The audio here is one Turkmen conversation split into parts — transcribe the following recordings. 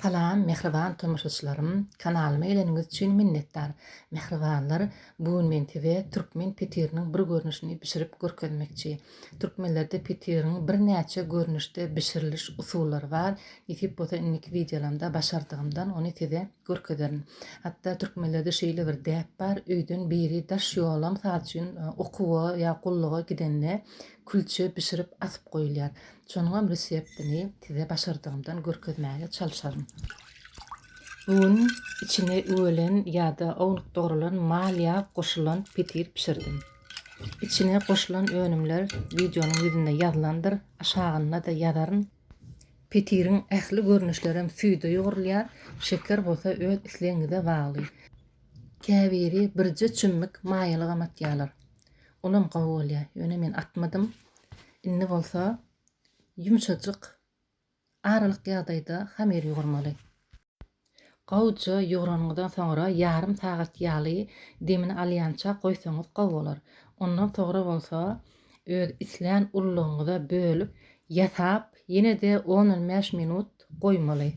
Salam mähriban tomaşaçylarym kanalyma geleniňiz üçin minnetdar mähribanlar bu gün men size türkmen petiriniň bir görnüşini bişirip görkezmekçi türkmenlerde petiriň birnäçe görnüşde bişiriliş usullary bar nesip bolsa indiki wideolamda başardygymdan ony size görkezerin hatda türkmenlerde şeýle bir däp bar öýden biri daş ýolam mysal üçin okuwa ýa gulluga gidende külçe bişirip asyp goýulýar Şonuňam reseptini size başardygymdan görkezmäge çalşaryn. Bu gün içine üwelen ýa-da ownuk dogrulan mal ýag goşulan petir bişirdim. Içine goşulan önümler wideonyň ýüzünde ýazylandyr, aşagynda-da ýazaryn. Petiriň ähli görnüşlerem süýde ýugrulýar, şeker bolsa öz islegiňize bagly. Käbiri birje çümmük maýalygam atýarlar. Olam gowy bolýa. Ýöne men atmadym. Indi bolsa ýumşajyk aralyk ýagdaýda hamyr ýugurmaly. Gowja ýugranyňyzdan soňra ýarym sagat ýaly demini alýança goýsaňyz gowy bolar. Ondan soňra bolsa öz islän ullugyňyza bölüp ýasap ýene-de on-on bäş minut goýmaly.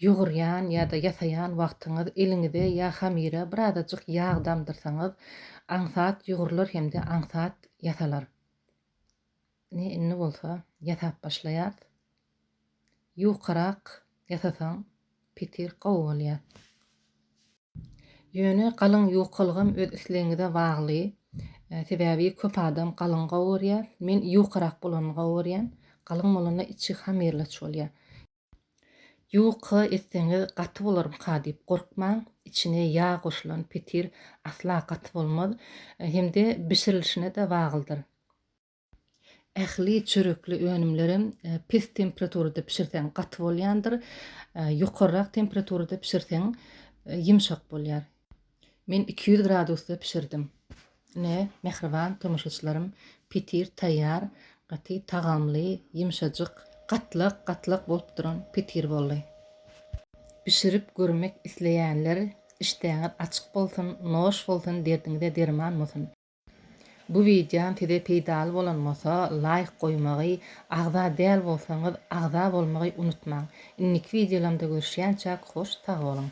Ýugurýan ýa-da ýasaýan wagtyňyz eliňize ýa hamyra birazajyk ýag damdyrsaňyz, aňsat ýugrular hem-de aňsat ýasalar. Ine, indi bolsa ýasap başlaýarys. Ýukarak ýasasaň, petir gowy bolýar. Ýöne galyň ýukalygam öz islegiňize bagly. Sebäbi köp adam galyň gowurýar. Men ýukarak bolanyny gowurýan. Galyň bolanda içi hamirleç bolýar. Ýuka etseňiz gaty bolarmyka diýip gorkmaň. Içine ýag goşulan petir asla gaty bolmaz. Hem-de bişirilişine-de baglydyr. Ähli çörekli önümlerem pes temperaturada bişirseň gaty bolýandyr, ýokarrak temperaturada bişirseň ýumşak bolýar. Men iki ýüz gradusda bişirdim. Ine, mähriban tomaşaçylarym, petir taýýar, gaty tagamly, ýumşajyk, gatlak-gatlak bolup duran petir boldy. Bişirip görmek isleýänler, işdäňiz açyk bolsun, noş bolsun, derdiňize derman bolsun! Bu wideom size peýdaly bolan bolsa laýk goýmagy, agza däl bolsaňyz agza bolmagy unutmaň. Indiki wideolamda görüşýänçäk hoş sag boluň.